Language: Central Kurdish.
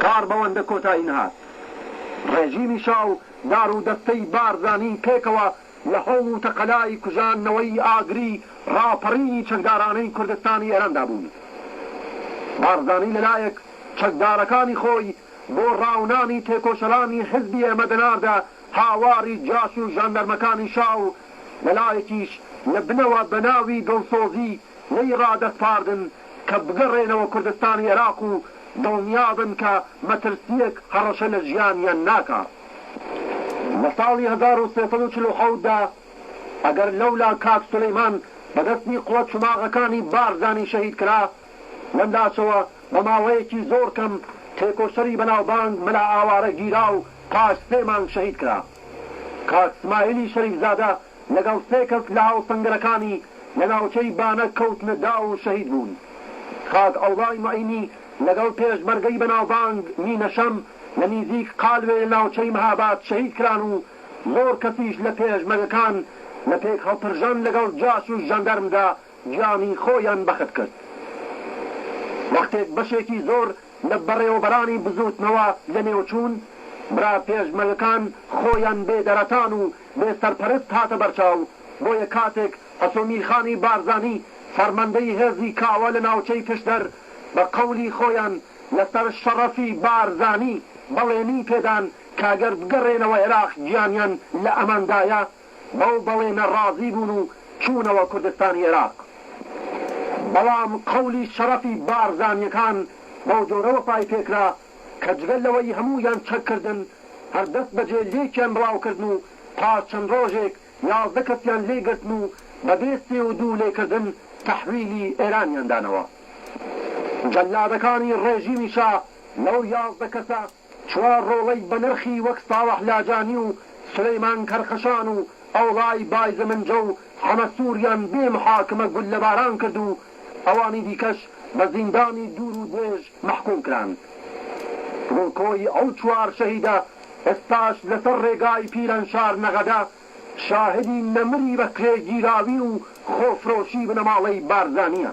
کار بەوەندە کۆتایی نەهات ڕێژیمی شا و دار و دەستەی بارزانی پێکەوە لە هەوڵ و تەقەلای کوژاندنەوەی ئاگری ڕاپەڕینی چەکدارانەی کوردستانی ئێراندا بوون. بارزانی لە لایەک چەکدارەکانی خۆی بۆ ڕاونانی تێکۆشەرانی حیزبی ئێمە دەناردە هاواری جاش و ژاندەرمەکانی شا و لە لایەکیش لە بنەوە بە ناوی دڵسۆزی لێی ڕادەسپاردن کە بگەڕێنەوە کوردستانی عێراق و دڵنیابن کە مەترسییەک هەڕەشە لە ژیانیان ناکات. لە ساڵی هەزار و سێ سەد و چل و حەوت دا ئەگەر لەولا کاک سولەیمان بە دەستی قوە چوماغەکانی بارزانی شەهید کرا، لەملاشەوە بە ماوەیەکی زۆر کەم تێکۆشەری بەناوبانگ مەلا ئاوارە گیرا و پاش سێ مانگ شەهید کرا. کاک سمایلی شەریفزادە، لەگەڵ سێ کەس لە هاوسەنگەرەکانی لە ناوچەی بانە کەوتنە داو و شەهید بوون. کاک عەوڵای موعینی لەگەڵ پێشمەرگەی بەناوبانگ مینە شەم لە نیزیک قالوێ لە ناوچەی مهاباد شەهید کران و زۆر کەسیش لە پێشمەرگەکان لە پێک هەڵپرژان لەگەڵ جاش و ژاندارمدا گیانی خۆیان بەخت کرد. وەختێک بەشێکی زۆر لە بەڕێوەبەرانی بزووتنەوە لە نێو چوون، برا پێشمەرگەکان خۆیان بێ دەرەتان و بێ سەرپەرست هاتە بەرچاو، بۆیە کاتێک حەسۆمیلخانی بارزانی فەرماندەی هێزی کاوە لە ناوچەی پشدەر بە قەولی خۆیان لەسەر شەڕەفی بارزانی بەڵێنی پێدان کەگەر بگەڕێنەوە عێراق گیانیان لە ئەماندایە بەو بەڵێنە ڕازی بوون و چوونەوە کوردستانی عێراق بەڵام قەولی شەڕەفی بارزانیەکان بەوجۆرە وەفای پێکرا کە جگە لەوەی هەموویان چەک کردن، هەر دەست بەجێ لێکیان بڵاو کردن و پاش چەند ڕۆژێک یازدە کەسیان لێ گرتن و بە بێ سێ و دوو لێ کردن تەحویلی ئێرانیان دانەوە. جەللادەکانی ڕێژیمی شا لەو یازدە کەسە چوار ڕۆڵەی بە نرخی وەک ساڵح لاجانی و سولەیمان کەرخەشان و ئەوڵای بایزمنجە و حەمە سووریان بێ محاکمە گوللەباران کرد و ئەوانی دیکەش بە زیندانی دوور و درێژ مەحکووم کران. ڕووکۆی ئەو چوار شەهیدە ئێستاش لەسەر ڕێگای پیرانشار نەغەدە شاهدی نەمری بەکرێگیراوی و خۆفرۆشی بنەماڵەی بارزانییە.